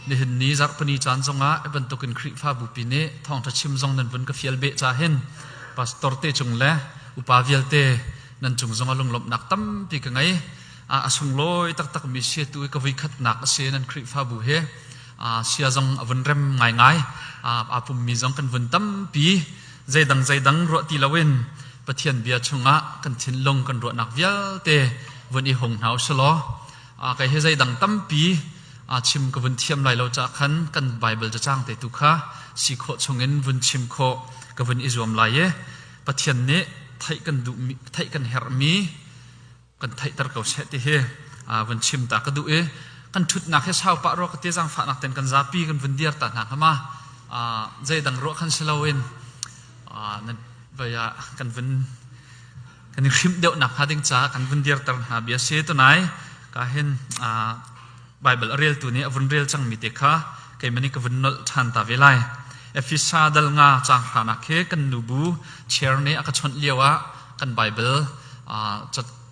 Nihin ni zarhpini caan zongah bantukin Khrihfabupi nih thawngṭha chim zong nan vun ka fial beh ca hin pastor te cung le upa vialte nan cung zongah lunglawmhnak tampi ka ngei. a sunglawi taktakmi siatu i ka vuikhatnak a si nan Khrihfabu he sia zong a vun rem ngaingai a pummi zong kan vun tampi zeidang zeidang ruah ti loin Pathian bia chungah kan thinlung kan ruahnak vialte vun i hung hna u si law kei he zeidang tampi chim ka vun thiam lai lo caah khan kan Baibal cacang te tu kha si khawh chungin vun chim khawh ka vun i zuam lai i Pathian nih theih kan duh theih kan herhmi kan theihter ko seh ti hi vun chim ta ka duh i kan ṭhutnak hi sau pah rua ka ti zaangfahnak ten kan zapi kan vun dir ta hna kama zeidang ruah khan si loin vaya kan vun kan i hrimh deuh nak hnga ding caah kan vun dir ter hna bia si tunai ka hin Baibal a reltu nih a vun rel cangmi te kha keimah nih ka vun nolh ṭhan ta ve lai. Efesa dal nga caang hranak hi kan nubu chair nih a ka chawnh lioah kan Baibal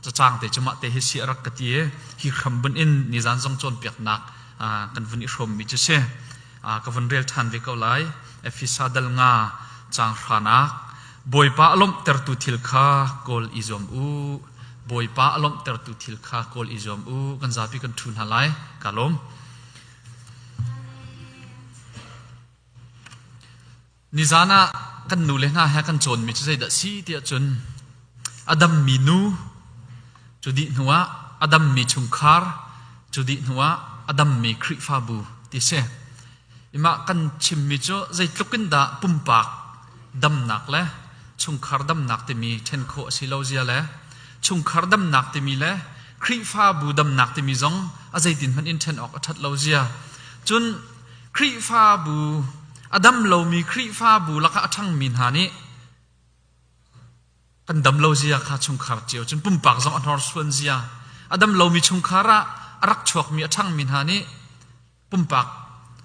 cacaangte cu mahte hi si a rak ka ti i hi hram bunh in nizan zong cawnpiaknak kan vun i hrawmmi cu si. ka vun rel ṭhan ve ko lai. Efesa dal nga caang hranak Bawipa a lawmhtertu thil kha kawl i zuam u. Bawipa a lawmhtertu thil kha kawl i zuam u. Kan zapi kan ṭhu hna lai. Ka lawm. Nizan ah kan nule hna he kan cawnmi cu zeidah si tiah cun a dammi nu cu dih hnuah a dammi chungkhar cu dih hnuah a dammi Khrihfabu ti si. Imah kan chimmi cu zeitluk in dah pumpak damnak le chungkhar damnak timi ṭhen khawh a si lo zia le chungkhar damnak timi le Khrihfabu damnak timi zong a zeitin hmanh in ṭhen awk a ṭhat lo zia cun Khrihfabu, a dam lomi Khrihfabu lakah a ṭhangmi hna nih kan dam lo zia kha chungkhar cio cun pumpak zong a hnorsuan zia, a dam lomi chungkhar ah a rak chuakmi a ṭhangmi hna nih pumpak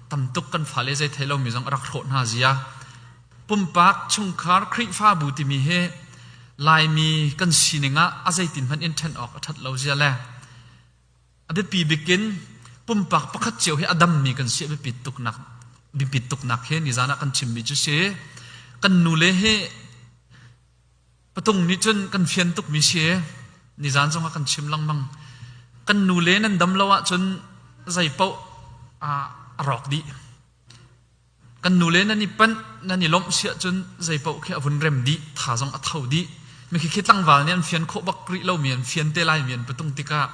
tam tuk kan fale zei thei lomi zong a rak hrawh hna zia. Pumpak chungkhar Khrihfabu timi hi Laimi kan sining ah a zeitin hmanh in ṭhen awk a ṭhat lo zia le A biapi bik in pumpak pakhat cio hi a dammi kan si a biapit tuknak biapit tuknak he nizan ah kan chimmi cu si kan nule hi patung nih cun kan fian tukmi si nizan zong ah kan chim lengmang kan nule nan dam lo ahcun zei paoh a rawk dih kan nule nan i panh nan i lawmh si ahcun zeipaoh khi a vun rem dih tha zong a tho dih mikhi tlangval nih an fian khawh bak rih lomi an fian te laimi an patung tikah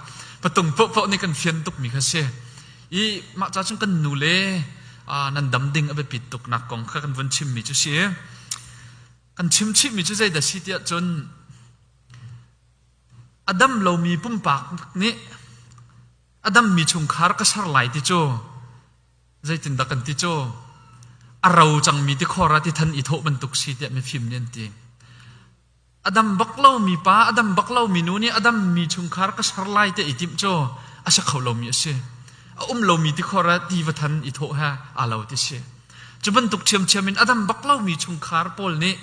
patung pohpoh nih kan fian tukmi kha si i mah ca cun kan nule nan dam ding a biapit tuk nak kong kha kan vun chimmi cu si kan chim chihmi cu zeidah si tiah cun a dam lomi pumpak nih a dammi chungkhar ka ser lai ti cu Zeitindah kan ti cu? A ro cangmi tikhor ah ti than i thawh bantuk si tiah mifim nih an ti. A dam bak lomi pa, a dam bak lomi nu nih a dammi chungkhar ka ser lai te i timh cu a si kho lomi a si. A um lomi tikhor ah ti va than i thawh he aa lo ti si. Cu bantuk ṭhiamṭhiam in a dam bak lomi chungkhar pawl nih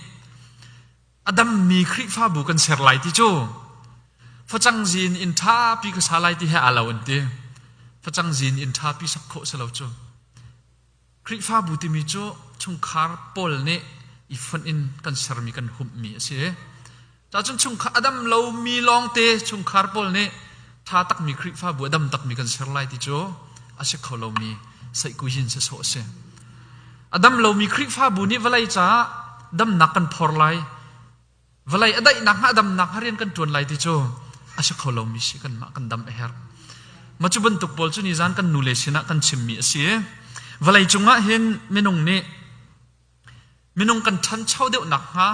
a dammi Khrihfabu kan ser lai ti cu facang zin in ṭhapi ka sa lai ti he aa lo an ti facang zin in ṭhapi sak khawh si lo cu Khrihfabu timi cu chungkhar pawl nih i fonh in kan sermi kan humhmi a si cahcun chungkhar a dam lomi lawngte chungkhar pawl nih ṭha takmi Khrihfabu a dam takmi kan ser lai ti cu a si kho lomi saihkuzin sasawh a si A dam lomi Khrihfabu nih vawlei caah damnak kan phor lai. Vawlei a daihnak hnga damnak hnga rian kan ṭuan lai ti cu a si kho lomi si kanmah kan dam a herh. Mah cu bantuk pawl cu nizan kan nule sinah kan chimmi a si i vawlei cungah hin minung nih minung kan ṭhancho deuh nakhnga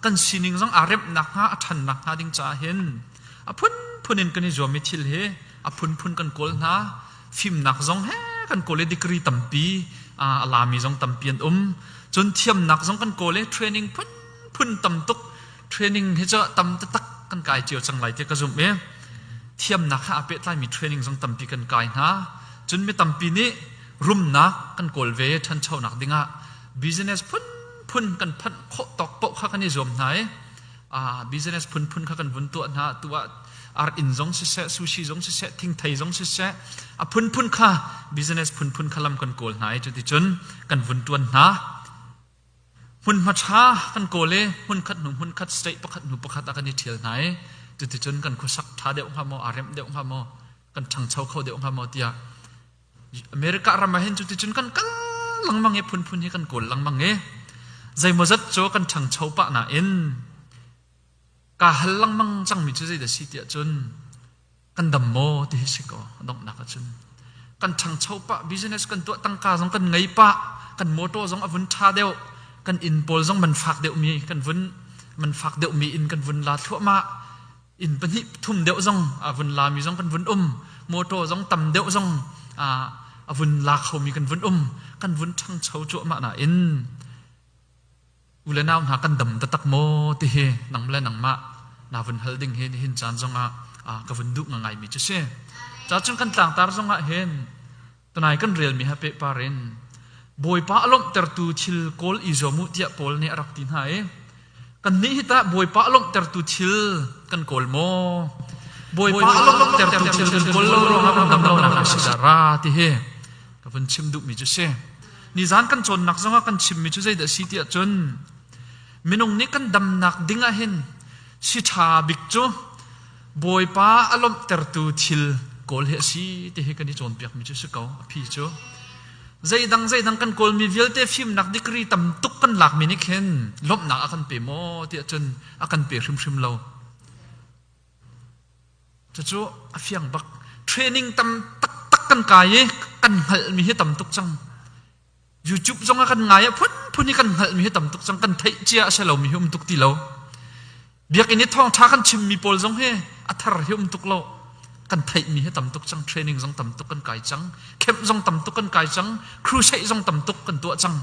kan sining zong aa remh nakhnga a ṭhan nakhnga ding caah hin a phunphun in kan i zuam i thil hi a phunphun kan kawl hna. fimnak zong he kan kawl i degree tampi a lami zong tampi an um cun thiamnak zong kan kawl i training phunphun tam tuk training hi cu tam taktak kan kai cio cang lai tiah ka zumh i thiamnak he aa pehtlaimi training zong tampi kan kai hna cun mi tampi nih rumnak kan kawl ve ṭhanchonak dingah business phunphun kan phanh khawh tawk paoh kha kan i zuam hna i business phunphun kha kan vun tuah hna tu ah ar inn zong siseh sushi zong siseh thingthei zong siseh a phunphun kha business phunphun kha lam kan kawl hna i cuticun kan vun tuan hna hmun hmatra kan kawl i hmun khat hnu hmun khat state pakhat hnu pakhat ah kan i ṭhial hna i cuticun kan khuasak ṭha deuh hnga maw a remh deuh hnga maw kan ṭhangcho kho deuh hnga maw tiah America ram ah hin cu ticun kan kal lengmang i phunphun hi kan kawl lengmang i zeimawzat cu kan ṭhangcho pah nain kaa hal lengmang cangmi cu zei dah si tiah cun kan dam maw ti hi si kaw donghnak ah cun kan ṭhangcho pah business kan tuah tangka zong kan ngei pah kan motor zong a vun ṭha deuh kan inn pawl zong man fak deuhmi kan vun man fak deuhmi in kan vun la thluahmah inn pahnih thum deuh zong a vun lami zong kan vun um motor zong tam deuh zong a vun la khomi kan vun um kan vun ṭhangcho cuahmah nain u le nau hna kan dam taktak maw ti hi nang le nangmah na vun hal ding hi nihin caan zongah ka vun duh ngangaimi cu si cacun kan tlangtar zongah hin Tunai kan relmi ha pehpar in Bawipa a lawmhtertu thil kawl i zuam u tiah Paul nih a rak ti hna i kannih hi tah Bawipa a lawmhtertu thil kan kawl maw? Bawipa a lawmhtertu thil kan kawl lo ruangah phundang lonak a si dah ra ti hi ka vun chim duhmi cu si. Nizan kan cawnnak zongah kan chimmi cu zeidah a si tiah cun minung nih kan damnak ding ah hin si ṭha bik cu Bawipa a lawmhtertu thil kawl hi a si ti hi kan i cawnpiakmi cu si ko a phi cu zeidang zeidang kan kawlmi vialte fimnak degree tam tuk kan lakmi nih khin lawmhnak a kan pe maw tiah cun a kan pe hrimhrim lo cucu a fiang bak training tam taktak kan kai i kan hngalhmi hi tam tuk cang YouTube zong ah kan ngai ah phunphun i kan hngalhmi hi tam tuk cang kan theih cia a si lomi hi um tuk ti lo biakinn i thawngtha kan chimmi pawl zong hi a thar hi um tuk lo kan theihmi hi tam tuk cang training zong tam tuk kan kai cang camp zong tam tuk kan kai cang crusade zong tam tuk kan tuah cang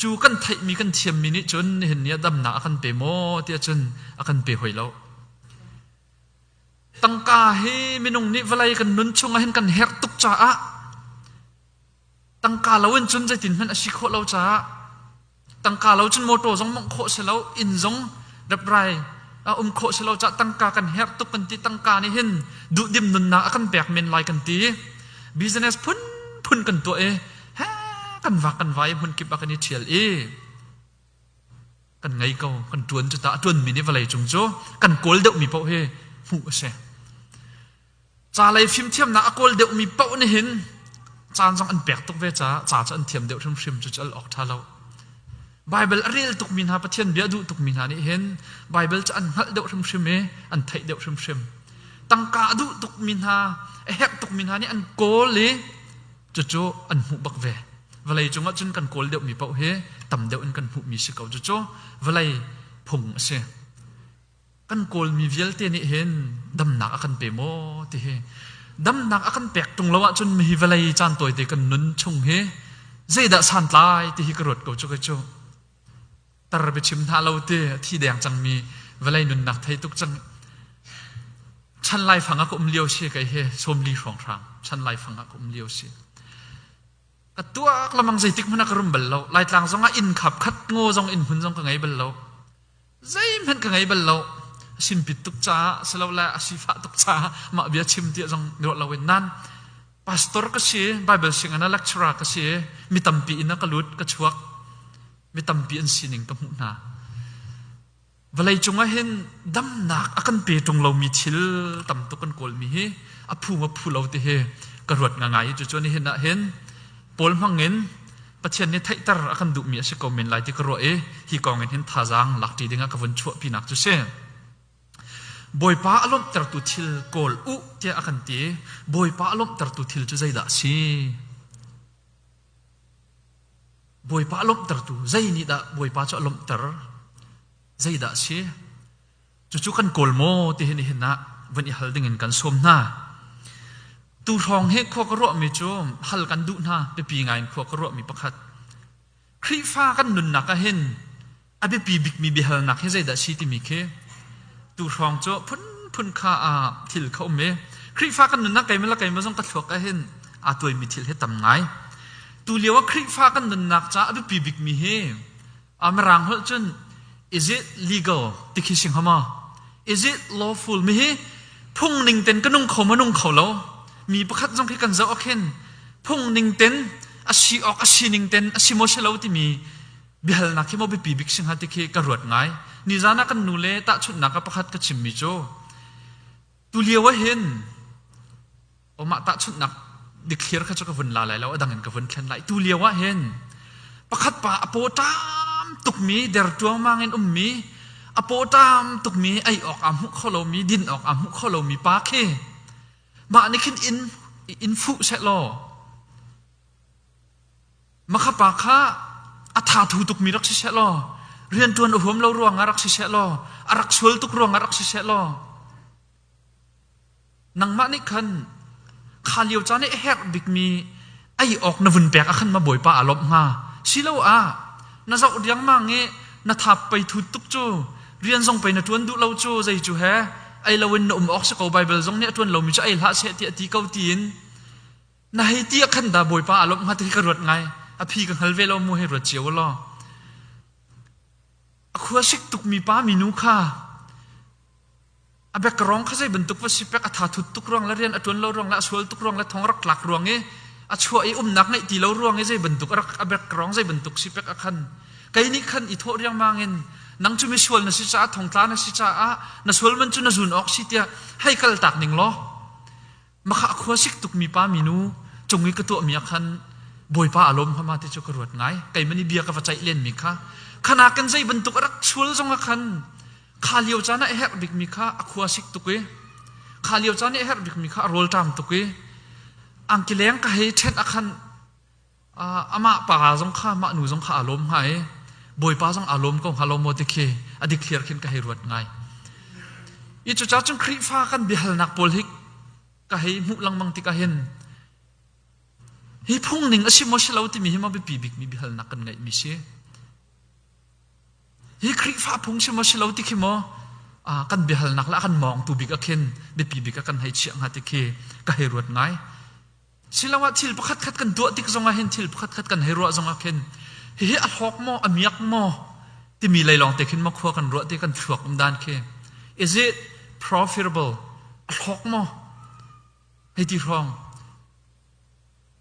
cu kan theihmi kan thiammi nih cun nihin ni ah damnak a kan pe maw tiah cun a kan pe hoi lo tangka hi minung nih vawlei kan nun chung ah hin kan herh tuk caah Tangka lo in cun zeitin hmanh a si khawh lo caah tangka lo cun motor zong mongh khawh si lo inn zong reprai a um khawh si lo caah tangka kan herh tuk kan ti tangka nih hin duhdim nunnak a kan pek men lai kan ti business phunphun kan tuah i he kan vak kan vai hmun kip a kan i ṭhial i kan ngei ko kan ṭuan cu ta a ṭuanmi nih vawlei cung cu kan kawl deuhmi paoh hi hmuh a si Calei fimthiamnak a kawl deuhmi paoh nih hin caan zong an pek tuk ve caah ca cu an thiam deuh hrimhrim cu cal awk ṭha lo. Baibal a ril tukmi hna, Pathian bia a duh tukmi hna nih hin Baibal cu an hngalh deuh hrimhrim i an theih deuh hrimhrim. Tangka a duh tukmi hna, a herh tukmi hna nih an kawl i cucu an hmuh bak ve. Vawlei cungah cun kan kawl deuhmi paoh hi tam deuh in kan hmuhmi si ko. Cucu vawlei phung a si. kan kawlmi vialte nih hin damnak a kan pe maw ti hi damnak a kan pek tung lo ahcun mi hi vawlei caan tawite kan nun chung hi zeidah santlai ti hi ka ruat ko cu kai cu tar bi chim hna lo ti thi deng cangmi vawlei nunnak thei tuk cang chan lai fang a ka um lio si kai he som li hrawng hrang chan lai fang a ka um lio si ka tuak lamang zeitik hmana ka rum bal lo laitlang zong ah inn khap khat ngo zong inn hmun zong ka ngei bal lo zeihmanh ka ngei bal lo a simpit tuk caah silole a sifah tuk caah mah bia chim ti zong ruah loin nan pastor ka si bible singin a lecturer ka si mi tampi in a ka lut ka chuak mi tampi an sining ka hmuh hna vawlei cungah hin damnak a kan pe tung lomi thil tam tuk kan kawlmi hi a phu ma phu lo ti hi ka ruat nga ngai cucu ni hin ah hin paul hmangin Pathian nih theihter a kan duhmi a si ko men lai ti ka ruah i hi kong in hin thazaang lakṭi dingah ka vun chuahpinak cu si. Bawipa a lawmhtertu thil kawl u tiah a kan ti i Bawipa a lawmhtertu thil cu zeidah a si? Bawipa a lawmhtertu zei nih dah Bawipa cu a lawmhter? Zeidah a si? Cucu kan kawl maw ti hi nihin ah vun i hal ding in kan sawm hna. Tu hrawng he khua ka ruahmi cu hal kan duh hna biapi ngaiin khua ka ruahmi pakhat. Khrihfa kan nunnak ah hin a biapi bikmi biahalnak hi zeidah si timi khi tu hrawng cu phunphun kha ah thil kha um i Khrihfa kan nunnak keimah le keimah zong ka thluak ah hin aa tuaimi thil hi tam ngai. Tu lio ah Khrihfa kan nunnak caah a biapi bikmi hi a mirang holh cun is it legal ti khi si hnga ma is it lawful mi hi phung ning ten ka nung kho ma nung kho lo mi pakhat zong khi kan zoh akhin phung ning ten a si ok a si ning ten a si mo se lo timi bihal nak hi mo bipi bik sing ha ti khi ka ruat ngai ni zana kan nu le ta chun nak ka pakhat ka chim mi chu tu lio hin o mah tahchunhnak dikthliar kha cu ka vun la lai lo adang in ka vun thlen lai tu lio ah hin pakhat pa apaw tam tukmi der tuangmang in ummi apaw tam tukmi ei awk aa hmuh kho lomi din awk aa hmuh kho lomi pa khi mah nih khin in in fuh se law makha pa kha a tha thu tukmi rak si se law rian tuan a huam lo ruang ah rak si se law a rak sual tuk ruang ah rak si se law Nangmah nih khan kha lio caan i a herh bikmi ei awk na vun pek ah khan ma Bawipa aa lawmh hnga siloah na zoh riangmang i na thap pei thut tuk cu rian zong pei na ṭuan duh lo cu zei cu he ei loin na um awk si ko Baibal zong nih a ṭuan lomi cu ei hlah seh ti a ti ko tiin na hei ti ah khan dah Bawipa aa lawmh hnga ti hi ka ruat ngai a phi ka hngal ve lo mu hei ruat cio law a khua sik tukmi pa minu kha A background kha zei bantuk va si pek a thathut tuk ruang le rian a tuan lo ruang le a sual tuk ruang le thong rak tlak ruang i a chuah i umnak ngeih ti lo ruang i zei bantuk a background zei bantuk si pek a khan kei nih khan i thawh riangmang in nang cu mi sual na si caah thongtla na si caah na sual man cu na zun awk si tiah hei kal tak ning law Maka a khuasik tukmi pa minu cung i ka tuahmi ah khan Bawipa a lawm hmama ti cu ka ruat ngai. Keiman i bia ka va caih lenmi kha khana kan zei bantuk a rak sual zong ah khan kha lio caan ah a herh bikmi kha a khuasik tuk i kha lio caan i a herh bikmi kha a rawlṭam tuk i angki leng ka hei ṭhenh ah khan amah pa zong kha mah nu zong kha aa lawm hnga i bawipa zong aa lawm ko hnga lawm maw ti khi a dikthliar khin ka hei ruat ngai i cucaah cun Khrihfa kan biahalnak pawl hi ka hei hmuh lengmang tikah hin hi phungning a si maw si lo timi hi maw biapi bikmi biahalnak kan ngeihmi si hi Khrihfa phung si maw si lo ti khi maw kan biahalnak le a kan mawngtu bik ah khin biapi bik ah kan hei chiah hnga ti khi ka hei ruat ngai Siloah thil pakhatkhat kan tuah tik zongah hin thil pakhatkhat kan hei ruah zongah khin hihi a hlawk maw, a miak maw timi lei lawngte khin makhua kan ruah ti kan thluak um dan khi is it profitable a hlawk maw hei ti hrawng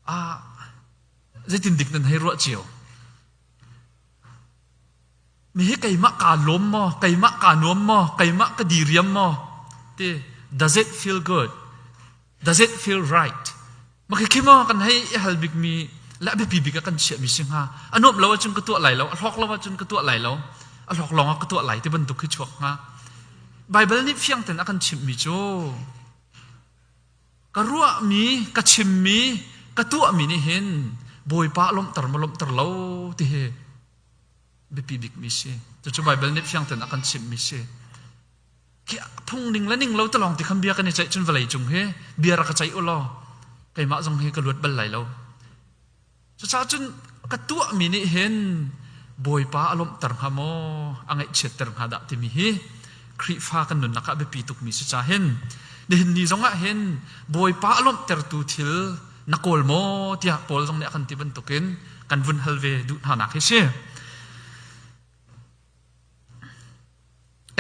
ah zeitin dik nan hei ruah cio Nihi keimah kaa lawm maw, keimah kaa nuam maw, keimah ka diriam maw ti does it feel good? Does it feel right? Makhikhi maw kan hei i hal bikmi le a biapi bik ah kan chiahmi si hnga. A nuamh lo ahcun ka tuah lai lo, a hlawk lo ahcun ka tuah lai lo, a hlawk lawng ah ka tuah lai ti bantuk hi chuak hnga. Baibal nih fiangten a kan chimhmi cu ka ruahmi, ka chimmi, ka tuahmi nih hin Bawipa lawmhter maw lawmhter lo ti hi biapi bikmi si. Cucu Baibal nih fiangten a kan chimhmi si. Khi phungning le ning lo te lawng ti khan bia kan i ceih cun vawlei cung hi bia rak ka ceih u law keimah zong hi ka luat bal lai lo. Cucaah cun ka tuahmi nih hin Bawipa a lawmhter hnga maw, a ngaihchiatter hnga dah timi hi Khrihfa kan nunnak ah biapi tukmi si ca hin nihin ni zongah hin Bawipa a lawmhtertu thil na kawl maw tiah Paul zong nih a kan ti bantukin kan vun hal ve duh hna nak hi si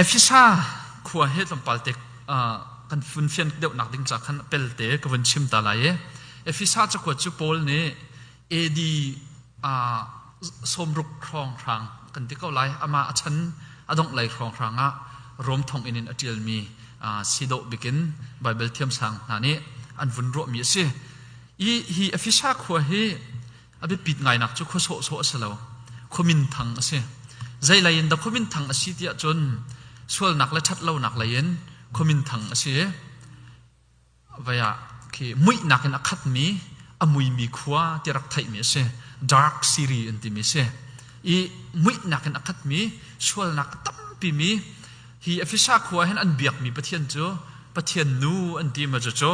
Efesa khua he tlawmpal te kan fun fian deuh nak ding ca khan pelte ka vun chim ta lai i Efesa cakuat cu Paul nih AD sawmruk hrawnghrang kan ti ko lai. Amah a chan a dongh lei hrawnghrang ah Rom thonginn in a ṭialmi si dawh bikin Baibal thiamsang hna nih an vun ruahmi a si. I hi Efesa khua hi a biapit ngainak cu khua sawhsawh a si lo, khua minthang a si. Zeilei in dah khua minthang a si tiah cun sualnak le ṭhatlonak lei in khua minthang a si i vai ah khi muihnak in a khatmi a muimi khua ti rak theihmi a si dark siri an timi a si i muihnak in a khatmi sualnak tampi mi hi Efesa khua hin an biakmi Pathian cu Pathian nu an ti ma cu cu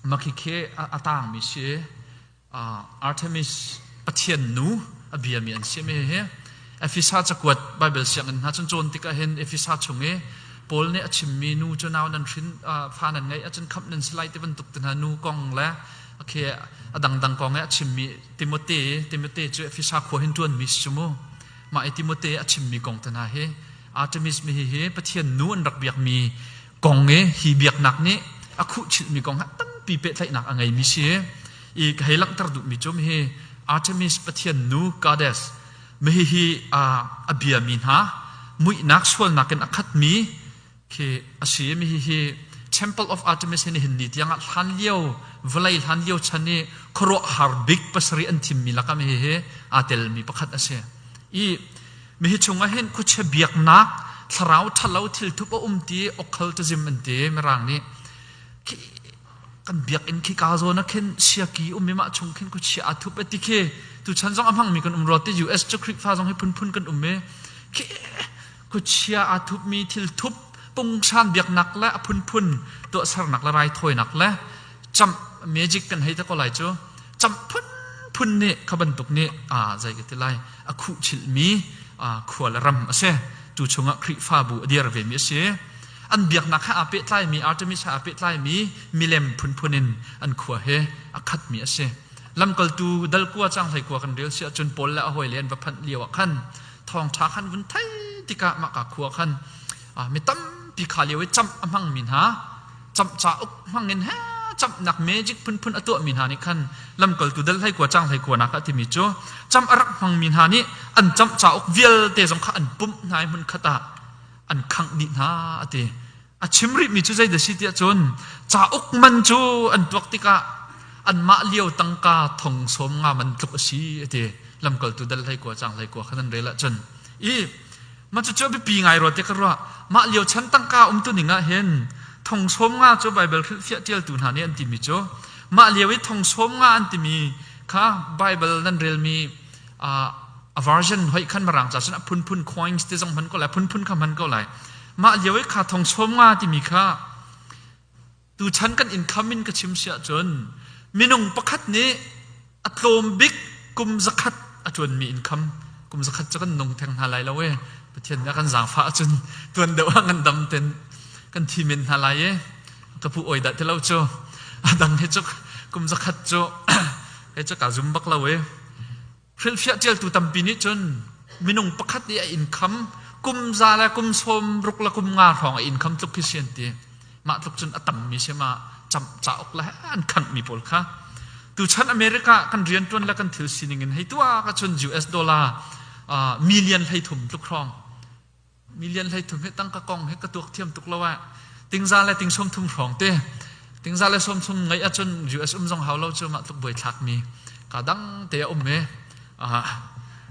Makhikhe a tangmi si. Artemis pathian nu a biami an si mi hi Efesa cakuat Baibal sianginn hna cun cawn tikah hin Efesa chung i Paul nih a chimmi nu cu nau nan hrin fa nan ngeih ahcun khamh nan si lai ti bantuk ti hna nu kong le khi a dangdang kong i a chimmi Timote Timote cu Efesa khua hin ṭuanmi si cu mu mah i Timote a chimmi kong te hna hi Artemis mi hihi pathian nu an rak biakmi kong i hi biaknak nih a khuhchilhmi kong ha tampi pehtlaihnak a ngeimi si i ka hei langhter duhmi cu hi Artemis pathian nu goddess mihi hi a biami hna muihnak sualnak in a khatmi khi a si mihi hi Temple of Artemis hi nihin ni tiangah hlan lio vawlei hlan lio chan i khuaruah har bik pasarih an thimmi lakam hi hi aa telmi pakhat a si i Mihi chung ah hin khuachia biaknak thlarau ṭhalo thilthup a um ti okhal tu zim an ti mirang nih khi kan biak in khi ka zawn a khin siaki um mi mah chung khin khuachia a thup ati khi tu chan zong a hmang mi kan um rot ti US cu Khrihfa zong hi phunphun kan um mi khi khuachia a thup mi thil thup pungshan biaknak le a phunphun to sernak le raithawinak le cham magic kan hei ta ko lai cu cham phunphun nih kha bantuk nih a zei ka ti lai a khuhchilhmi khua le ram a si. Tu chungah Khrihfabu a dir vemi a si. An biaknak he aa pehtlaimi, Artemis he aa pehtlaimi milem phunphun in an khua he a khatmi a si. Lamkaltu dal kua caanghlei kua kan rel si ahcun Paul le a hawile an va phanh lioah khan thawngṭha kha an vun theih tikah mahka khua khan mi tampi kha lio i camh a hmangmi hna camh ca uk hmangin he camhnak magic phunphun a tuahmi hna nih khan lamkaltu dal hleikua cang hleikua nak a timi cu camh a rak hmangmi hna nih an camh cauk vialte zong kha an pumh hna i hmun khat ah an khangh dih hna a ti a chim rihmi cu zei da si tiah cun cauk man cu an tuak tikah anmah lio tangka thong sawm nga man tluk a si a ti lamkaltu dal hleikua cang hleikua khan an rel ahcun i Mah cucu a biapi ngai rua ti ka ruah. Mah lio chan tangka umtuning ah hin Thong Sawm Nga cu Baibal hrilhfiah ṭialtu hna nih an timi cu mah lio i Thong Sawm Nga an timi kha Baibal nan relmi ah a version hoih khan Mirang ca cun a phunphun coins ti zong hman ko lai, phunphun kha hman ko lai. Mah lio i kha Thong Sawm Nga timi kha Tuchan kan income in ka chim si ahcun minung pakhat nih a tlawm bik kum zakhat a ṭuanmi income kum zakhat cu kan nung theng hna lai lo e Pathian nih a kan zaangfah ahcun tuan deuh ah ngan dam ten kan thi men hna lai e ka pu oi dah ti lo cu a dang he cu kum zakhat cu he cu kaa zum bak lo e Hrilhfiah ṭialtu tampi nih cun minung pakhat i a inn kham kum za le kum sawm ruk le kum nga hrawng a inn kham tluk khi si an ti. Mah tluk cun a tammi si ma cauk le an khanghmi pawl kha. Tuchan America kan rianṭuan le kan thil sining in hei tuah ahcun US dollar million hlei thum tluk hrawng million hleithum hi tangka kong hi ka tuak thiam tuk lo ah tingza le ting sawmthum hrawngte tingza le sawmthum ngeih ahcun US um zong hau lo cu mah tluk buaithlak mi ka dang te a um e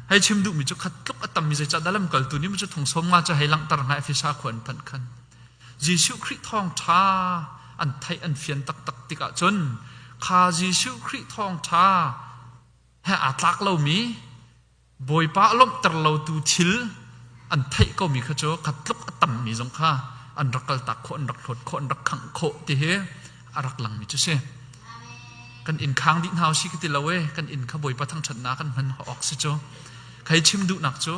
hei chim duhmi cu khat tluk a tammi zeicah dah lamkaltu ni mu cu thungsawm nga cu hei langhter nga efesa khua an phanh khan Jesuh Khrih thawng ṭha an theih an fian taktak tikah cun kha Jesuh Khrih thawng ṭha he aa tlak lomi Bawipa a lawmhter lotu thil an theih komi kha cu kha tluk a tammi zong kha an rak kaltak khawh, an rak hlawt khawh, an rak khangh khawh ti hi a rak langmi cu si. Kan inn khang dih hna u si ka ti lo e, kan inn kha Bawipa thangṭhatnak kan hman awk si cu. Khai chim duhnak cu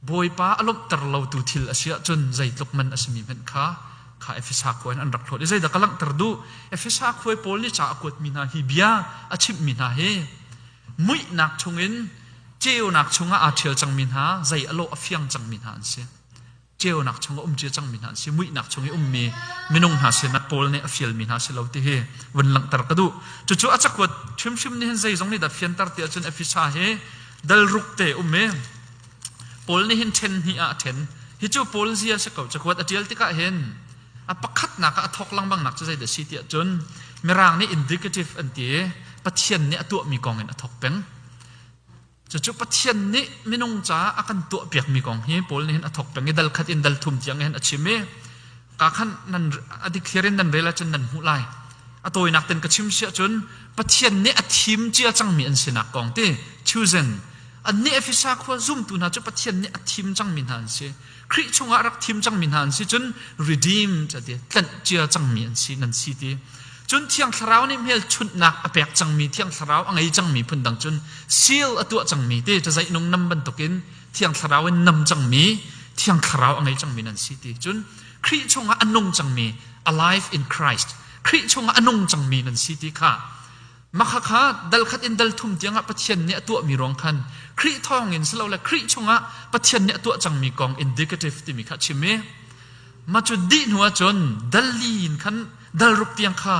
Bawipa a lawmhter lotu thil a si ahcun zeitluk man a simi hmanh kha kha Efesa khua in an rak hlawt i zeidah ka langhter duh? Efesa khuai pawl nih ca a kuatmi hna hi bia a chimhmi hna hi muihnak chungin ceunak chungah aa ṭhial cangmi hna zei a lawh a fiang cangmi hna an si ceunak chungah um cia cangmi hna an si muihnak chung i ummi minung hna sin ah Paul nih a fialmi hna si lo ti hi vun langhter ka duh cucu a cakuat hrimhrim nih hin zeizong nih dah fianter ti ahcun Efesa hi dal ruk te um i Paul nih hin ṭhen hnih ah a ṭhen hi cu Paul zia si ko cakuat a ṭial tikah hin A pakhatnak ah a thawk lengmangnak cu zeidah a si tiah cun Mirang nih indicative an ti i Pathian nih a tuahmi kong in a thawk peng. Cucu Pathian nih minung caah a kan tuahpiakmi kong hi Paul nih hin a thawk peng i dal khat in dal thum tiang hin a chim i ka khan nan a declare in nan rel ahcun nan hmuh lai. A tawinak ten ka chim si ahcun Pathian nih a thim cia cangmi an sinak kong ti chosen annih Efesa khua zumtu hna cu Pathian nih a thim cangmi hna an si. Khrih chungah rak thim cangmi hna an si cun redeemed a ti tlanh cia cangmi an si nan si ti cun thiang thlarau nih hmelchunhnak a pek cangmi thiang thlarau a ngei cangmi phundang cun seal a tuah cangmi ti cazainung nam bantukin thiang thlarau in nam cangmi thiang thlarau a ngei cangmi nan si ti cun Khrih chungah a nung cangmi alive in Christ Khrih chungah a nung cangmi nan si ti kha Makhakha dalkhat in dalthum tiangah Pathian nih a tuahmi ruang khan Khrih thawngin si lo le Khrih chungah Pathian nih a tuah cangmi kong indicative timi kha a chim i mah cu dih hnu ahcun dal li in khan dal ruk tiang kha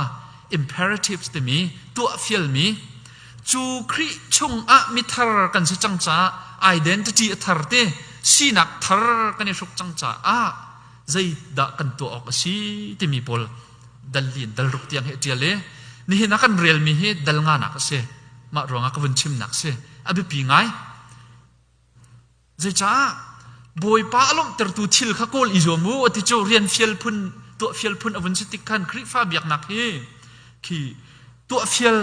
imperatives timi tuahfialmi cu Khrih chungah mithar kan si cang caah identity a thar ti sinak thar kan i hruk cang caah zeidah kan tuah awk a si timi pawl dal in dal ruk tiang hi a ṭial i nihin ah kan relmi hi dal nganak a si mah ruangah ka vun chimnak si a biapi ngai zeicah bawipa a lawmhtertu thil kha kawl i zuam u ti cu rian fial phun tuah fial phun a vun si tik khan Khrihfa biaknak hi khi tuah fial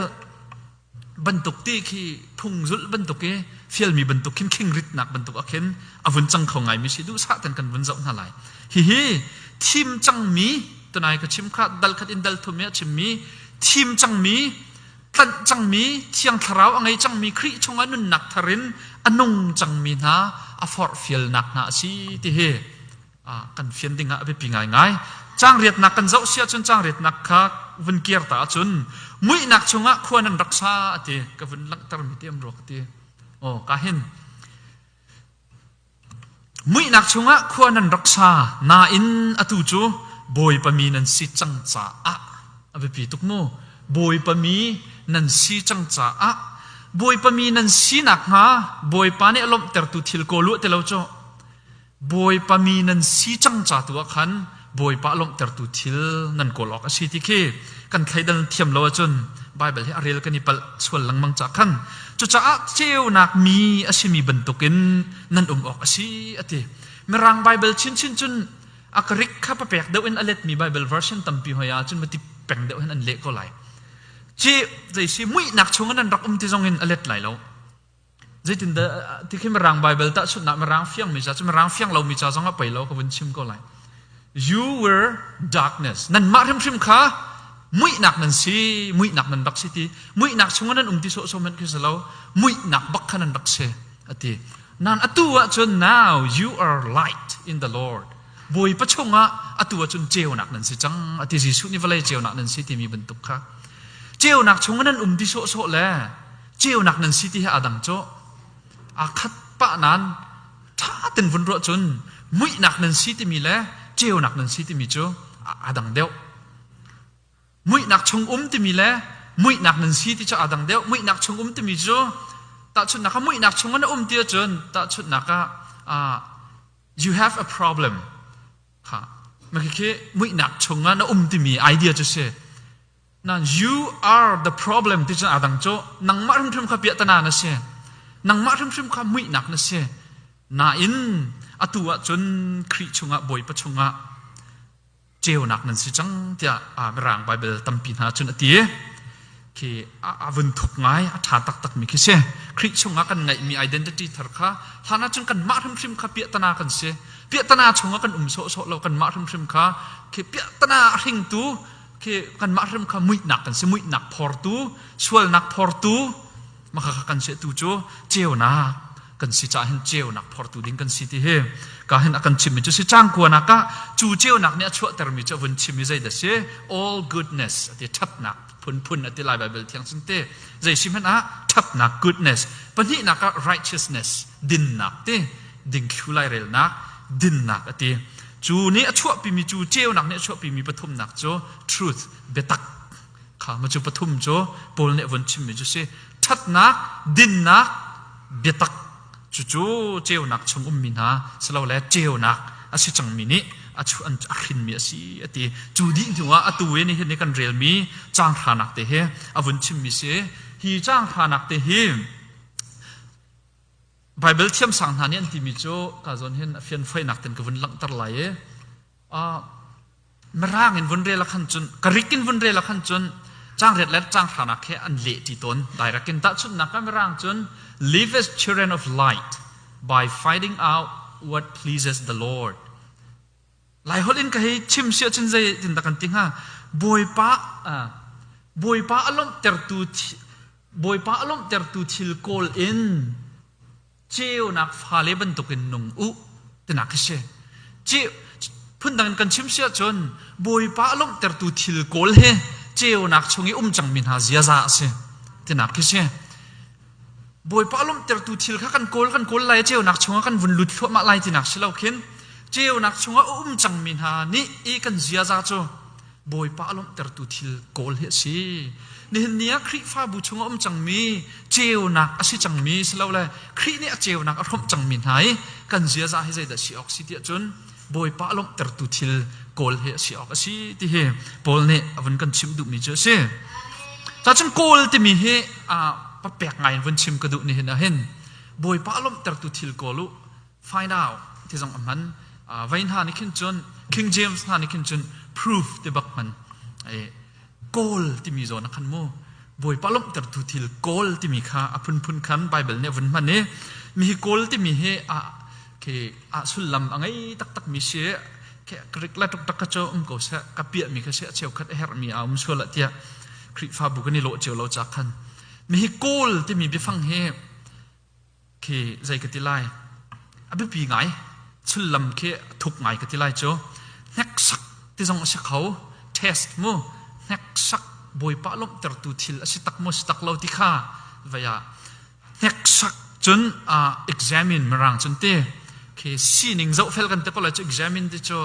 bantuk ti khi phungzulh bantuk i fialmi bantuk khin khingritnak bantuk ah khin a vun cang kho ngaimi si duhsah ten kan vun zoh hna lai hihi thim cangmi tunai ka chim kha dal khat in dal thum i a chimmi thim cangmi tlanh cangmi thiang thlarau a ngei cangmi Khrih chungah nunnak thar in a nung cangmi hna a forhfialnak hna a si tihi kan fian ding ah a biapi ngaingai. Cangriatnak kan zoh si ahcun cangriatnak kha vun kir ta ahcun muihnak chungah khua nan rak sa a ti ka vun langhtermi tiam rua ka ti. Oh, ka hin muihnak chungah khua nan rak sa nain atu cu bawipami nan si cang caah a biapi tuk mu bawipami nan si cang caah bawipami nan sinak hnga bawipa nih a lawmhtertu thil kaw luah te lo cu Bawipa mi nan si cang ca tu ah khan Bawipa lawmhtertu thil nan kawl awk a si ti khi kan thleidan thiam lo ahcun Baibal hi a rel kan i palh sual lengmang ca khan cucaah ceunak mi a simi bantukin nan um awk a si a ti Mirang Baibal chinchin cun a karik kha papek deuh in a letmi Baibal version tampi hoi ah cun mati peng deuh hin an leh ko lai ci zeisi muihnak chung in an rak um ti zong in a let lai lo Zeitindah ti khi Mirang Bible tahchunhnak Mirang fiangmi ca cu Mirang fiang lomi ca zong a pei lo ka vun chim ko lai. You were darkness. Nan mah hrimhrim kha muihnak nan si, muihnak nan rak si ti. Muihnak chungah nan um ti sawhsawh hmanh khi si lo. Muihnak bak kha nan rak si a ti. Nan atu ahcun now you are light in the Lord. Bawipa chungah atu ahcun ceunak nan si cang a ti. Jesuh nih vawlei ceunak nan si timi bantuk kha. Ceunak chungah nan um ti sawhsawh le ceunak nan si ti he a dang cu aa khat pah nan ṭha ten vun ruah cun muihnak nan si timi le ceunak nan si timi cu a dang deuh muihnak chung um timi le muihnak nan si ti cu a dang deuh muihnak chung um timi cu tahchunnak ah muihnak chung na um ti cun tahchunnak ah you have a problem ha ma khi muihnak chung ah na um timi idea cu si Nan you are the problem ti cun aa dang cu nangmah hrimhrim kha piahtana na si. Nangmah hrimhrim kha muihnak na si. Nain atu ah cun Khrih chungah Bawipa chungah ceunak nan si cang tiah Mirang Baibal tampi hna cun a ti. Khi a vun thuk ngai, a ṭha taktakmi khi si. Khrih chungah kan ngeihmi identity thar kha hlan ah cun kanmah hrimhrim kha piahtana kan si. Piahtana chungah kan um sawhsawh lo, kanmah hrimhrim kha khi piahtana a hringtu khi kanmah hrem kha muihnak kan si muihnak phortu sualnak phortu maka kha kan si tu cu ceunak kan si cah hin ceunak phortu ding kan si ti hi ka hin a kan chimmi cu si cang kuanak ah cu ceunak nih a chuahtermi cu a vun chim i zeidah si all goodness a ti ṭhatnak phunphun a ti lai bible thiang sin te zei si hmanh ah ṭhatnak goodness pahnihnak ah righteousness dinnak ti dingthlu lairelnak dinnak a ti. Cu nih a chuahpimi cu ceunak nih a chuahpimi pathumnak cu truth, biatak, kha macu pathum cu Paul nih a vun chimmi cu si. Ṭhatnak, dinnak, biatak cucu ceunak chung ummi hna silole ceunak a si cangmi nih a hrinmi a si a ti. Cu dih hnuah atu i nihin i kan relmi caanghranak te hi a vun chimmi si. Hi caanghranak te hi Baibal thiamsang hna nih an timi cu ka zawn hin a fianfoinak ten ka vun langhter lai i mirang in vun rel a khan cun karik in vun rel a khan cun changriat le changhranak he an leh ṭi tawn direct in tahchunhnak ah mirang cun live as children of light by finding out what pleases the Lord Laiholh in ka hei chim si ahcun zeitindah kan ti hnga? Bawipa, Bawipa a lawmhtertu Bawipa a lawmhtertu thil kawl in ceunak fale bantukin nung u tinak khi si. Phundang in kan chim si ahcun Bawipa a lawmhtertu thil kawl he ceunak chung i um cangmi hna ziaza a si tinak khi si. Bawipa lawmhtertu thil kha kan kawl kan kawl lai i ceunak chungah kan vun lut thluahmah lai tinak si lo khin ceunak chungah a um cangmi hna nih i kan ziaza cu Bawipa a lawmhtertu thil kawl hi a si. Nihin ni ah Khrihfabu chungah um cangmi ceunak a si cangmi si lo le Khrih nih a ceunak a hrawmh cangmi hna i kan ziaza hi zeidah si awk si tiah cun Bawipa lawmhtertu thil kawl he a si awk a si ti hi Paul nih a vun kan chimh duhmi cu a si. Cacun kawl timi hi aa pek ngai in vun chim ka duh nihin ahhin Bawipa lawmhtertu thil kawl u find out ti zong a hman. Vai hna nih khin cun King James hna nih khin cun proof ti bak hman Kawl timi zawn a khan mu. Bawipa lawmhtertu thil kawl timi kha a phunphun khan Baibal nih a vun hman i mi hi kawl timi hi a khi a sullam a ngei taktakmi si Greek le tuktak ka cu um ko seh ka piahmi kha si a cheukhat a herhmi a um sual tiah Khrihfabu kan i lawh cio lo ca khan mi hi kawl timi biafang hi khi zei ka ti lai a biapi ngai sullam khi a thup ngai ka ti lai cu hneksak ti zong a si kho test mu hneksak bawipa lawmhtertu thil a si tak maw si tak lo ti kha vai ah hneksak cun examine mirang cun ti khi sining zoh fel kan te ko lai cu examine ti cu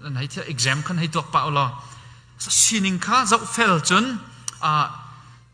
nan hei thia exam khan hei tuak pa ulaw sining kha zoh fel cun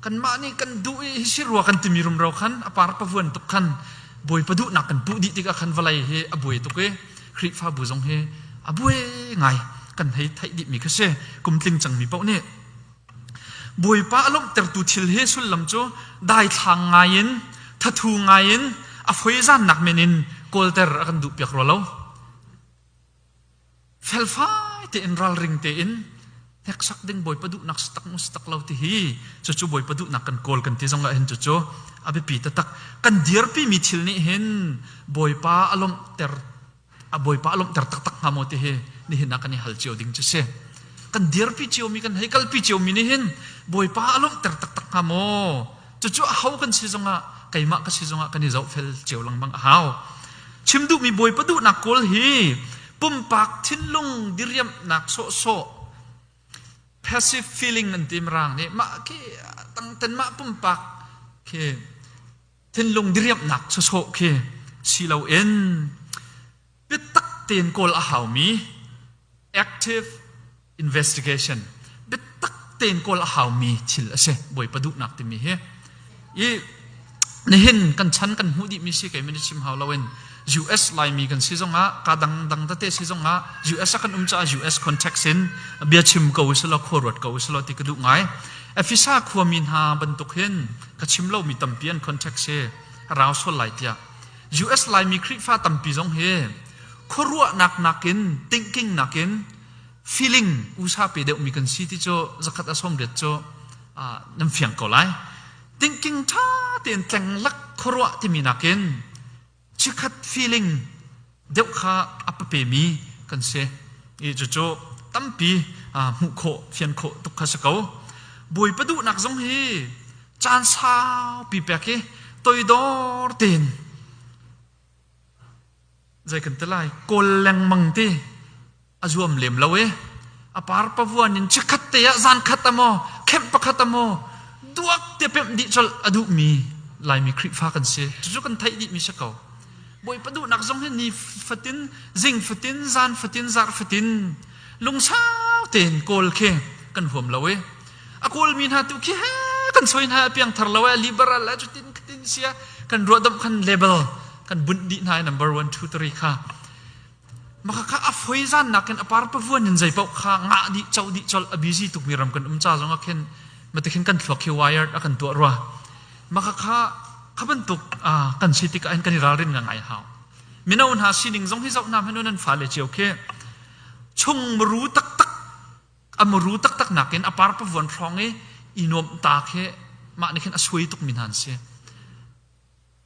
kanmah nih kan duh i hi si rua kan timi rumro khan a par pavuan tuk khan Bawipa duhnak kan puh dih tikah khan vawlei hi a buai tuk i Khrihfabu zong hi a buai ngai kan hei theih dihmi kha si kum tling cangmi paoh nih Bawipa a lawmhtertu thil hi sullam cu daithlang ngai in thathu ngai in a foizannak men in kawlter a kan duh piak rua lo felfai tein ralring tein hneksak ding bawipa duhnak stak mu stak lo ti hi cucu bawipa duhnak kan kawl kan ti zong ah hin cucu a biapi taktak kan dirpi mi thil nih hin bawipa a lawmh ter a bawipa a lawmh ter taktak hnga maw ti hi nihin ah kan i hal cio ding cu si kan dirpi cio mi kan hei kalpi cio mi nih hin bawipa a lawmh ter taktak hnga maw Cucu aho kan si zongah keimah ka si zongah kan i zohfel cio lengmang a hau. Chim duhmi bawipa duhnak kawl hi pumpak thinlung diriamhnak sawhsawh passive feeling an tim rang nih mah khi tangten mah pumpak khi thinlung diriamhnak sawsawh khi si loin biatak tein kawl a haumi active investigation biatak tein kawl a haumi thil a si bawipa duhnak timi hi i nihin kan chan kan hmuh dihmi si kei min i chim hau loin US Laimi kan si zongah ka dang dang tate si zongah US ah kan um caah US context in bia chim ko usilo khua ruat ko usilo ti ka duh ngai Efesa khuami hna bantuk hin ka chim lomi tampi an context hi rau sual lai tiah US Laimi Khrihfa tampi zong hi khuaruahnak nakin thinking nakin feeling usa pe deuhmi kan si ti cu zakhat a sawmriat cu nan fiang ko lai thinking ṭha tein tlenglak khuaruah timi nakin chikhat feeling deuh kha a papemi kan si i cucu tampi hmuh khawh fian khawh tuk kha si ko bawipa duhnak zong hi caan saupi pek i toidor tein zei kan ti lai kawl lengmang ti a zuam lem lo i a par pavuan in chikkhat te ah zankhat amaw khenh pakhat amaw duak te pemh dih col a duhmi laimi khrihfa kan si cucu kan theih dih mi si ko bawipa duhnak zong hi ni fatin zing fatin zan fatin zar fatin lungsau tein kawl khi kan huam lo i a kawlmi hna tu khi he kan soi hna piangthar lo eh liberal eh cutin khatin sia kan ruahdamh kan level kan bunh dih hna number 1 2 3 kha maka ka a foi zan nakin apar pavuan in zeipau kha nga di chau di chol a busy tuk mi ram kan um cha zong a khen matekhin kan thlo khi wired a kan tua rwa maka ka khaban tuk kan city ka an kan ralrin nga ngai hau minau hna sining zong hi zau nam hanu nan fa le chiu khi chung mru tak tak a muru taktak nakin a parpavuan hrawng i i nuamh ta khi mah nih khin a suai tukmi hna an si.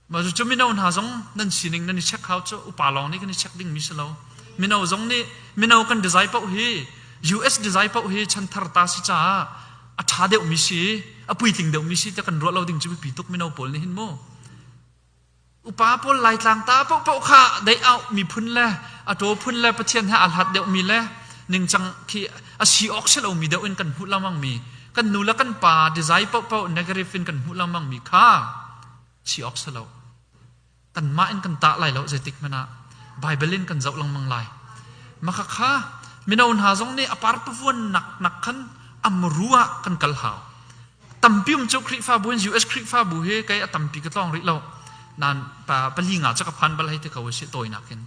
Mah cu mino hna zong nan sining nan i check hau cu upa lawng nih kan i check dingmi si lo. Mino zong nih mino kan design paoh hi US design paoh hi chanthar ta si caah a tha deuhmi si a puitling deuhmi si te kan ruah lo ding cu biapi tuk mino pawl nih hin mu. Upa pawl Laitlang ta paohpaoh kha dei-auh miphun le a ṭaw phun le Pathian he aa hlat deuhmi le ningcang khi a si awk si lomi deuh in kan hmuh lengmangmi, kan nu le kan pa desai paohpaoh negative in kan hmuh lengmangmi kha si awk si lo. Kanmah in kan tah lai lo zeitik hmanh ah. Baibal in kan zoh lengmang lai. Makhakha mino hna zong nih a parpavuan naknak khan amru ah kan kal hau. tampi um cu Khrihfabu in US Khrihfabu hi kei a tampi ka tlawng rih lo nan pa pali nga cak a phan bal hei ti ko si tawinak in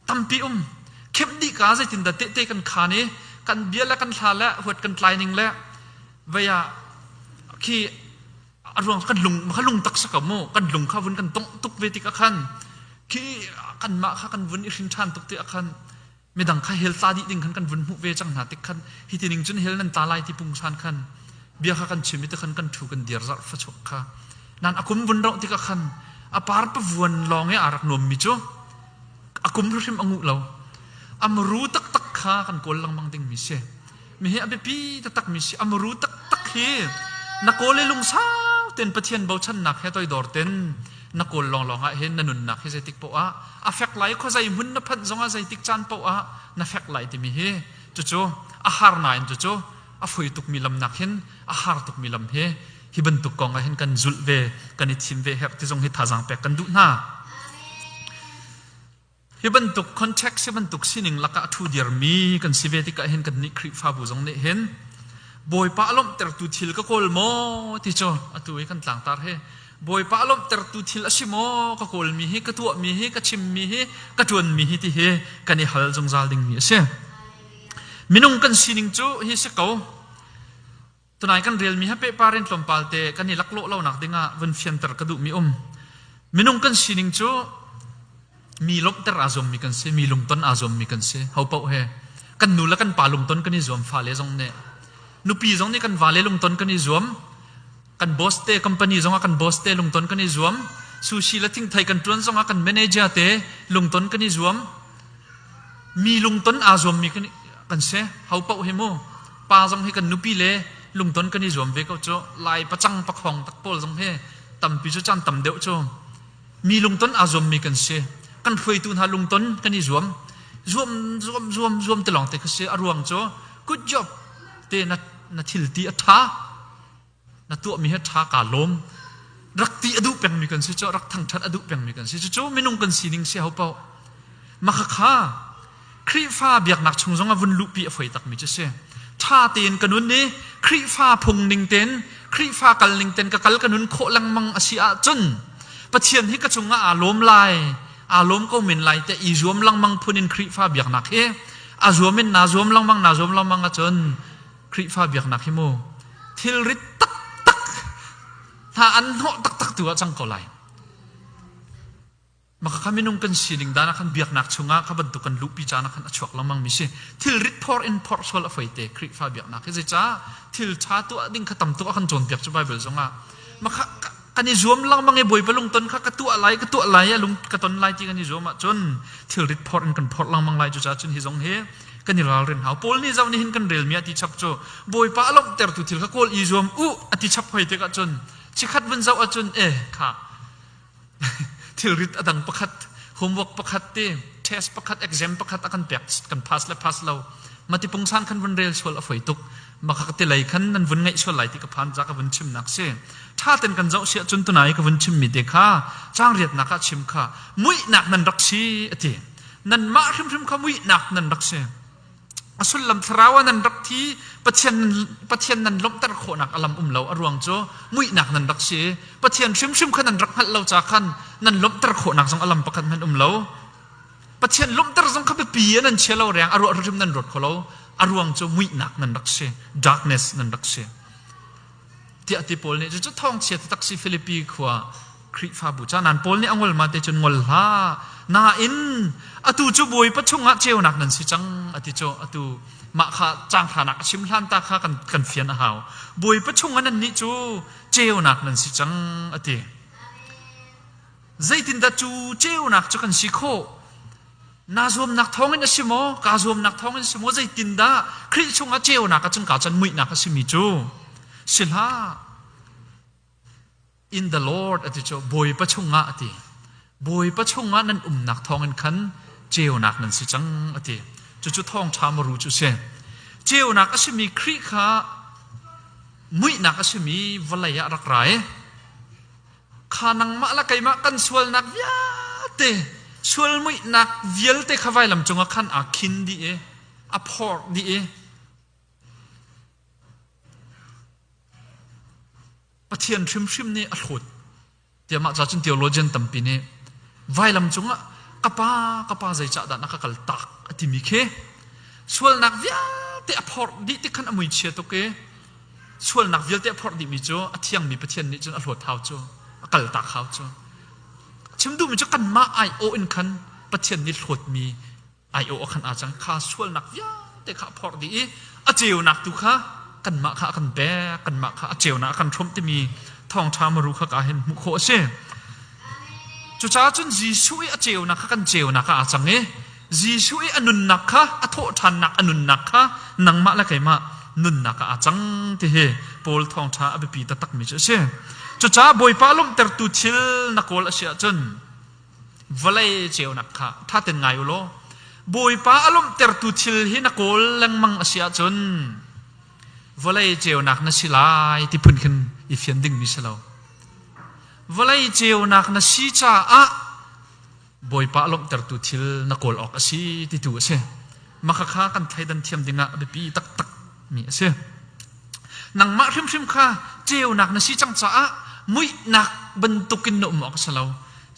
tampi um khep dih ka zeitin dah tehte kan khan i kan bia le kan hla le huat kan tlai ning le vaya khi a ruang kan lung kha lung tak sa mu kan lung kha vun kan tong tuk ve tik a khan khi kan mah kha kan vun i hring than tuk ti a khan midang kha hell tla dih ding khan kan vun hmuh ve cang hna tik khan hi ti ning cun hell nan tla lai ti pungsan khan bia kha kan chim i ti khan kan thu kan dir zarh fachuak kha nan akum vun rauh tikah khan a par pavuan lawng i a rak nuam mi cu akum hrim angu lo amru taktak kha kan kawl lengmang ding mi si Mihi a biapi taktakmi si. A muru taktak hi na kawl i lungsau tein Pathian bochannak he toidor ten na kawl lawnglawng ah hin na nunnak hi zeitik poh ah a fek lai, khuazei hmun na phanh zong ah zeitik caan poh ah na fek lai timi hi cucu a har nain cucu a foi tukmi lam nak hin a har tukmi lam hi hi bantuk kong ah hin kan zulh ve kan i thim ve herh ti zong hi thazaang pek kan duh hna. Hi bantuk context hi bantuk sining lakah a ṭhu diarmi kan si ve tikah hin kan nih Khrihfabu zong nih hin Bawipa a lawmhtertu thil ka kawl maw ti cu atu i kan tlangtar hi Bawipa a lawmhtertu thil a si maw ka kawlmi hi ka tuahmi hi ka chimmi hi ka ṭuanmi hi ti hi kan i hal zungzal dingmi a si. Minung kan sining cu hi si ko Tunai kan relmi he pehpar in tlawmpal te kan i laklawh lonak dingah vun fianter ka duhmi um. Minung kan sining cu mi lawmhter aa zuammi kan si, mi lungton aa zuammi kan si. Hopoh he kan nu le kan pa lungton kan i zuam, fale zong nih nupi zong nih kan vale lungton kan i zuam, kan boss te company zongah kan boss te lungton kan i zuam, sushi le thingthei kan tuan zongah kan manager te lungton kan i zuam. Mi lungton aa zuammi kan, kan si. Hopoh hi mu Pa zong hi kan nupi le lungton kan i zuam ve ko cu. Lai pacang pakhuang tak pawl zong hi tampi cu caan tam deuh cu mi lungton aa zuammi kan si. Kan hruaitu hna lungton kan i zuam. Zuam zuam zuam zuam te lawng te kha si. A ruang cu good job te na na thil ti a ṭha. na tuahmi hi ṭha kaa lawm rak ti a duh pengmi kan si cu rak thangṭhat a duh pengmi kan si cucu minung kan sining si hau paoh makhakha Khrihfa biaknak chung zong a vun luhpi a foi takmi cu si ṭha tein ka nun i Khrihfa phung ning tein Khrihfa kal ning tein ka kal ka nun khawh lengmang a si ahcun Pathian hi ka cungah aa lawm lai aa lawm ko men lai te i zuam lengmang phun in Khrihfa biaknak hi a zuam in naa zuam lengmang naa zuam lengmang ahcun Khrihfa biaknak hi mu thilrit taktak hna an hnawh taktak tu ah cang ko lai. Maka kha minung kan sining dan ah khan biaknak chungah kha bantuk kan luhpi caan ah khan a chuak lengmang mi si thilrit phor in phor sual a fai te Khrihfa biaknak hi zeicah thil tha tuah ding kha tam tuk a kan cawn piak cu Bible zongah maka kan i zuam lengmang i Bawipa lungton kha ka tuah lai ka tuah lai i a lung ka ton lai ti kan i zuam ahcun thilrit phorh in kan phorh lengmang lai cucaah cun hi zong hi kan i ralrin hau Paul nih zoh nihin kan relmi ah ti chap cu Bawipa a lawmhtertu thil kha kawl i zuam u a ti chap hoi tik ahcun chikhat vun zoh ahcun eh kha thilrit a dang pakhat homework pakhat ti test pakhat exam pakhat a kan pek kan pass le pass lo mati pungsan kan vun rel sual a foi tuk Maka ka tilei khan nan vun ngaih sual lai ti ka phan ca ka vun chimnak si. Ṭha ten kan zoh si ahcun tuna i ka vun chimmi te kha caangriatnak ah chim kha muihnak nan rak si a ti. Nanmah hrimhrim kha muihnak nan rak si. A sullam thlarau ah nan rak thi Pathian nan, Pathian nan lawmhter khawhnak a lam um lo a ruang cu muihnak nan rak si Pathian hrimhrim kha nan rak hngalh lo ca khan nan lawmhter khawhnak zong a lam pakhat hmanh um lo Pathian lawmhter zong kha biapi in an chia lo riang a ruah hrim nan ruat kho lo a ruang cu muihnak nan rak si darkness nan rak si tiah ti paul nih cu thawngchia taktak si Philippi khua Khrihfabu ca nan paul nih a ngol ma te cun ngol hlah nain atu cu bawipa chungah ceunak nan si cang ati cu atu mah kha canghlanak a chim hlan ta kha kan kan fian a hau bawipa chungah nan nih cu ceunak nan si cang ati Zeitindah cu ceunak cu kan si khawh? Na zuamnak thawngin a si maw? Kaa zuamnak thawngin a si maw? Zeitindah Khrih chungah ceunak a cangka cang muihnak a simi cu si hlah. In the Lord a ti cu Bawipa chungah a ti. Bawipa chungah nan umnak thawngin khan ceunak nan si cang a ti. Cucu thawngṭha maru cu si. Ceunak a simi Khrih kha muihnak a simi vawlei ah rak ra i kha nangmah le keimah kan sualnak vialte sual muihnak vialte kha vailam cungah khan aa khin dih i a phor dih i Pathian hrimhrim nih a hlawt tiah cun theologian tampi nih vailam cungah ka pa ka pa zeicah dah na ka kal tak a timi khi sualnak vialte a phorh dih ti khan a muichia tuk i sualnak vialte a phorh dihmi cu a thiangmi Pathian nih cun a hlawt hau cu a kaltak hau cu. Chim duhmi cu kanmah aiawh in khan Pathian nih hlawtmi aiawh a khan a cang kha sualnak vialte kha a phorh dih i a ceunak tu kha kanmah kha a kan pek kanmah kha a ceunak a kan hromh timi thawngṭha maru kha ka hin hmuh khawh a si. Cucaah cun Jesuh i a ceunak kha kan ceunak ah a cang i Jesuh i a nunnak kha a thawhṭhannak a nunnak kha nangmah le keimah nunnak ah a cang ti hi Paul thawngṭha a biapi taktakmi cu a si. Cucaah Bawipa lawmhtertu thil na kawl a si ahcun vawlei ceunak kha ṭha ten ngai u law Bawipa a lawmhtertu thil hi na kawl lengmang a si ahcun vawlei ceunak na si lai ti phun khin i fian dingmi si lo. Vawlei ceunak na si caah Bawipa a lawmhtertu thil na kawl awk a si titu a si. Makhakha kan thleidan thiam dingah a biapi taktakmi a si. Nangmah hrimhrim kha ceunak na si cang caah muihnak bantukin na um awk a si lo.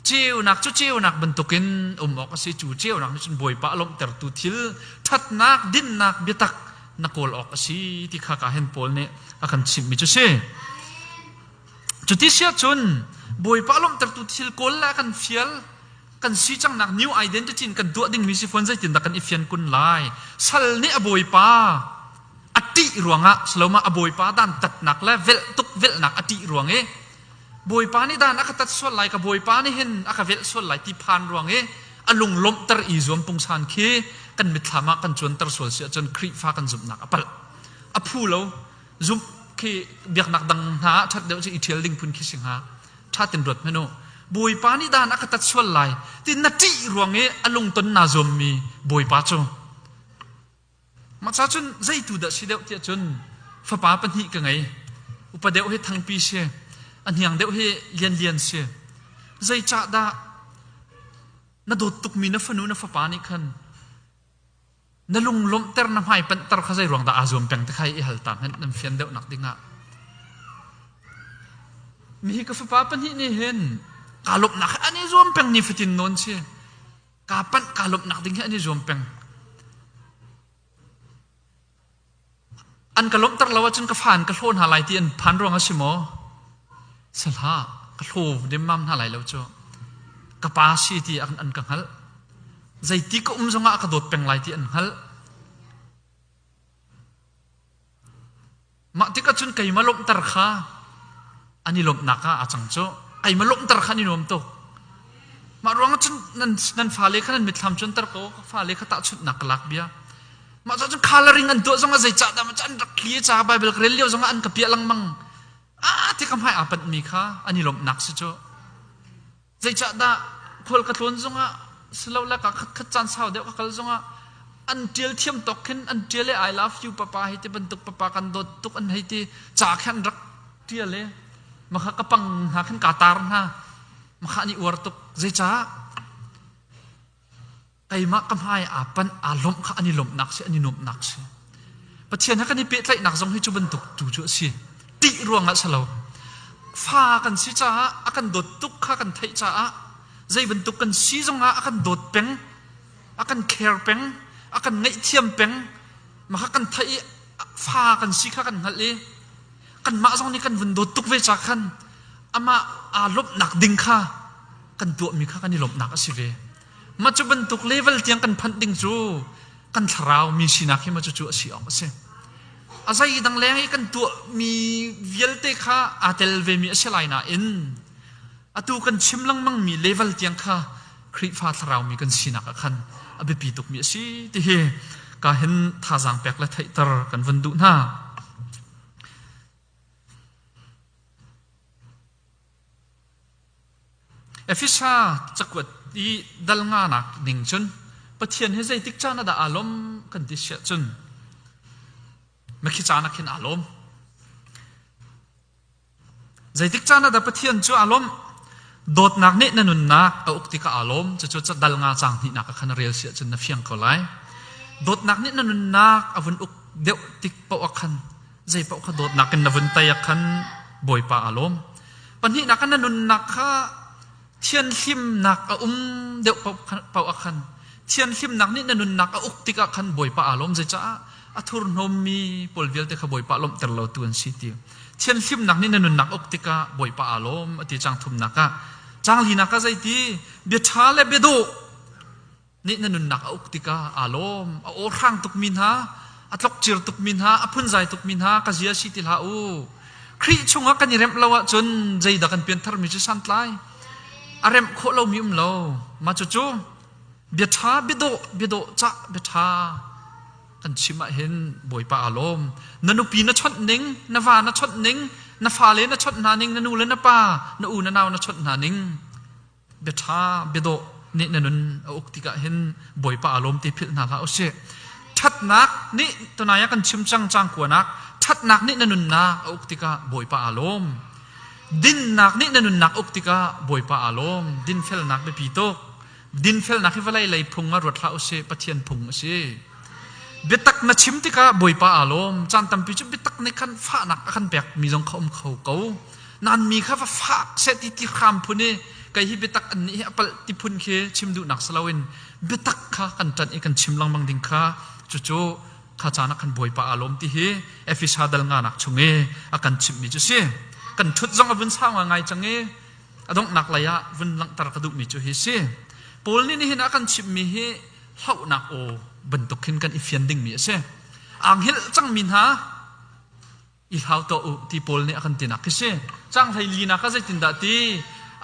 Ceunak cu ceunak bantukin um awk a si. Cu ceunak nih cun Bawipa a lawmhtertu thil, ṭhatnak, dinnak, biatak na kawl awk a si ti kha ka hen pawl nih a kan chimhmi cu si. Cuti siah cun Bawipa lawmhtertu thil kawl le kan fial kan si cangnak new identity in kan tuah dingmi si fawn zeitindah kan i fian kun lai sal nih a bawipa a ṭih ruangah saloma a bawipa dan tatnak le velh tuk velhnak a ṭih ruang i bawipa nih dan a ka tat sual lai ka bawipa nih hin a ka velh sual lai ti phan ruang i a lung lawmhter i zuam pungsan khi kan mitthlam ah kan cuanter sual si ahcun Khrihfa kan zumhnak a palh a phu lo zumh khi biaknak dang hna ṭhat deuh cu i ṭhial ding phun khi si hnga ṭhatin ruat hmanh u Bawipa nih dan a ka tat sual lai ti na ṭih ruang i a lungton naa zuammi Bawipa cu maca cun zeitu dah si deuh tiah cun fapa pahnih ka ngei upa deuh hi thangpi si a hniang deuh hi lianlian si zeicah dah na dawt tukmi na fanu na fapa nih khan Na lunglawmhter na hmaipanhter kha zeiruang dah aa zuam peng ti kha i hal ta hmanh nan fian deuhnak dingah. Nihi ka fapa pahnih nih hin kaa lawmhnak an i zuam peng ni fatin nawn si. Kaa panh kaa lawmhnak ding hi an i zuam peng. An ka lawmhter lo ahcun ka fa in ka hlaw hna lai ti an phan ruang a si maw? Sihlah, ka hlaw demmam hna lai lo cu. Ka pa si ti an ka hngalh. Zeiti ka um zongah ka dawt peng lai ti an hngalh. Mah tikah cun keimah lawmhter kha an i lawmhnak ah a cang cu keima lawmhter khan i nuam tuk mah ruang cun nan nan fale kha nan mitthlam cu anter ko ka fale kha tahchunhnak ka lak bia mah cun coloring an tuah zongah zei cah dah macan rak thli ca bible ka rel lio zongah an ka piah lengmang a ti ka hmai aa panh mi kha an i lawmhnak si cu Zeicahdah khual ka tlawn zongah silole ka khatkhat caan sau deuh ka kal zongah an ṭial thiam tawk khin an ṭial i I love you papa hi ti bantuk papa kan dawt tuk an hei ti ca khe an rak ṭial i maka ka pang hna khin kaa tar hna maka an i uar tuk zeicah Keimah ka hmai aa panh, aa lawmh kha an i lawmhnak si, an i nuamhnak si. Pathian he kan i pehtlaihnak zong hi cu bantuk tu cu a si. Ṭih ruangah si lo. Fa kan si caah, a kan dawt tuk kha kan theih caah, zei bantuk kan si zongah a kan dawt peng, a kan care peng, a kan ngaihthiam peng. Mah kha kan theih i, fa kan si kha kan hngalh i, kanmah zong nih kan vun dawt tuk ve ca khan, amah aa lawmhnak ding kha kan tuahmi kha kan i lawmhnak a si ve. Mah cu bantuk level tiang kan phanh ding cu kan thlarau mi sinak hi mah cucu a si awk a si. A zei dang leng i kan tuahmi vialte kha aa tel vemi a si lai nain atu kan chim lengmangmi level tiang kha Khrihfa thlaraumi kan sinak ah khan a biapi tukmi a si ti hi ka hen thazaang pek le theihter kan vun duh hna. Efesa cakuat i dalnganak ning cun Pathian hi zeitik caan ah dah aa lawm kan ti siah cun makhi caan ah khin aa lawm. Zeitik caan ah dah Pathian cu aa lawm? Dawtnak nih na nunnak a uk tikah aa lawm. Cucu dal nga cang hnihnak ah khan rel siah cun na fiang ko lai. Dawtnak nih na nunnak a vun uk deuh tik paoh ah khan Zeipaoh kha dawtnak in na vun tei ah khan Bawipa aa lawm. Pahnihnak ah na nunnak kha thianhlimnak a um deuh paoh ah khan thianhlimnak nih na nunnak a uk tik ah khan Bawipa aa lawm zecaah a thurhnawmmi pawl vialte kha Bawipa lawmhter lo tu an si ti thianhlimnak nih na nunnak uk tikah Bawipa aa lawm a ti cang thumnak ah cang linak ah zeiti bia ṭha le biadawh nih na nunnak a uk tikah aa lawm. A awhrang tukmi hna, a tlokcir tukmi hna, a phunzai tukmi hna ka zia si ti hlah u. Khrih chungah kan i remh lo ahcun zeidah kan piantharmi cu santlai. A remh khawh lomi um lo. Mah cucu bia ṭha, biadawh, biadawh, cah, bia ṭha kan chim ahhin Bawipa aa lawm. Na nupi na chawnh ning, na va na chawnh ning, na fale na chawnh hna ning, na nu le na pa, na u na nau na chawnh hna ning, biaṭha biadawh nih na nun a uk tikah hin Bawipa aa lawm ti philh hna hlah usih. Ṭhatnak nih tunai ah kan chim cang cang kuanak ṭhatnak nih na nunnak a uk tikah Bawipa aa lawm. Dinnak nih na nunnak uk tikah Bawipa aa lawm. Dinfelnak biapi tuk. Dinfelnak hi vawlei lei phung ah ruat hlah usih, Pathian phung a si. Biatak na chim tikah Bawipa aa lawm. Caan tampi cu biatak nih khan fahnak a kan pekmi zong kha um kho ko. nan mi kha va fak seh ti ti hram phun i kei hi biatak annih hi a palh ti phun khi chim duhnak si loin biatak kha kan ṭanh i kan chim lengmang ding kha cucu kha caan ah kan bawipa aa lawm ti hi efesa dal nga nak chung i a kan chimhmi cu si kan ṭhut zong a vun sau ngai cang i a donghnak lei ah vun langhter ka duhmi cu hi si paul nih nihin a kan chimhmi hi hlohnak aw bantuk khin kan i fian dingmi a si anghilh cangmi hna i hlau tuah u ti Paul nih a kan tinak khi si. Cang hlei linak ah zeitindah ti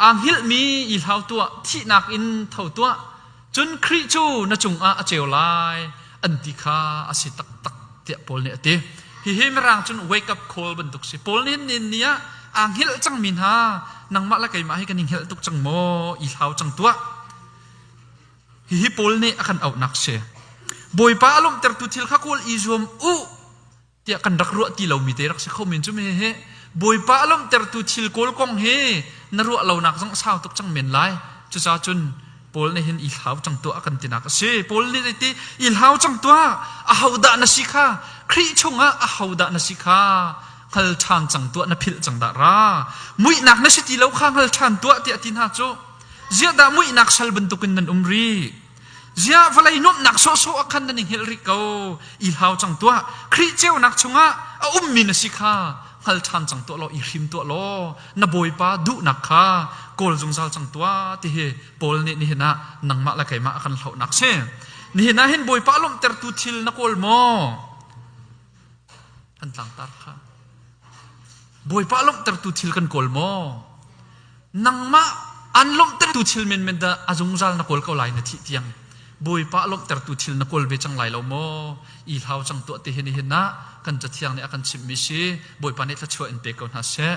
aa hngilhmi i hlau tuah, thihnak in tho tuah, cun Khrih cu na cungah a ceu lai, an ti kha a si taktak tiah Paul nih a ti. Hihi mirang cun wake up call bantuk si. Paul nih hin ni ah aa hngilh cangmi hna, nangmah le keimah hi kan i hngilh tuk cang maw? I hlau cang tuah. Hihi Paul nih a kan auhnak si. Bawipa a lawmhtertu thil kha kawl i zuam u. tiah kan rak ruah ti lomi te rak si kho men cu me hi Bawipa a lawmhtertu thil kawl kong hi na ruah lonak zong a sau tuk cang men lai cucaah cun Paul nih hin i hlau cang tuah a kan tinak a si Paul nih iti i hlau cang tuah ahodah na si kha Khrih chungah ahodah na si kha hngal ṭhan cang tuah na philh cang dah ra muihnak na si ti lo kha hngal ṭhan tuah tiah ti hna cu ziahdah muihnak sal bantukin nan um rih ziah vawlei nuamhnak sawhsawh ah khan nan i hngilh rih ko i hlau cang tuah khrih ceunak chungah a ummi na si kha hngal ṭhan cang tuah law i hrim tuah law na bawipa duhnak kha kawl zungzal cang tuah ti hi Paul nih nihin ah nangmah le keimah a kan hlohnak si nihin ah hin bawipa lawmhtertu thil na kawl maw Kan tlangtar kha Bawipa lawmhtertu thil kan kawl maw? Nangmah an lawmhtertu thil menmen dah a zungzal na kawl ko lai na thih tiang Bawipa lawmhtertu thil na kawl ve cang lai lo maw? I hlau cang tuah ti hi nihin ah kan cathiang nih a kan chimhmi si Bawipa nih thluachuah in pe ko hna seh.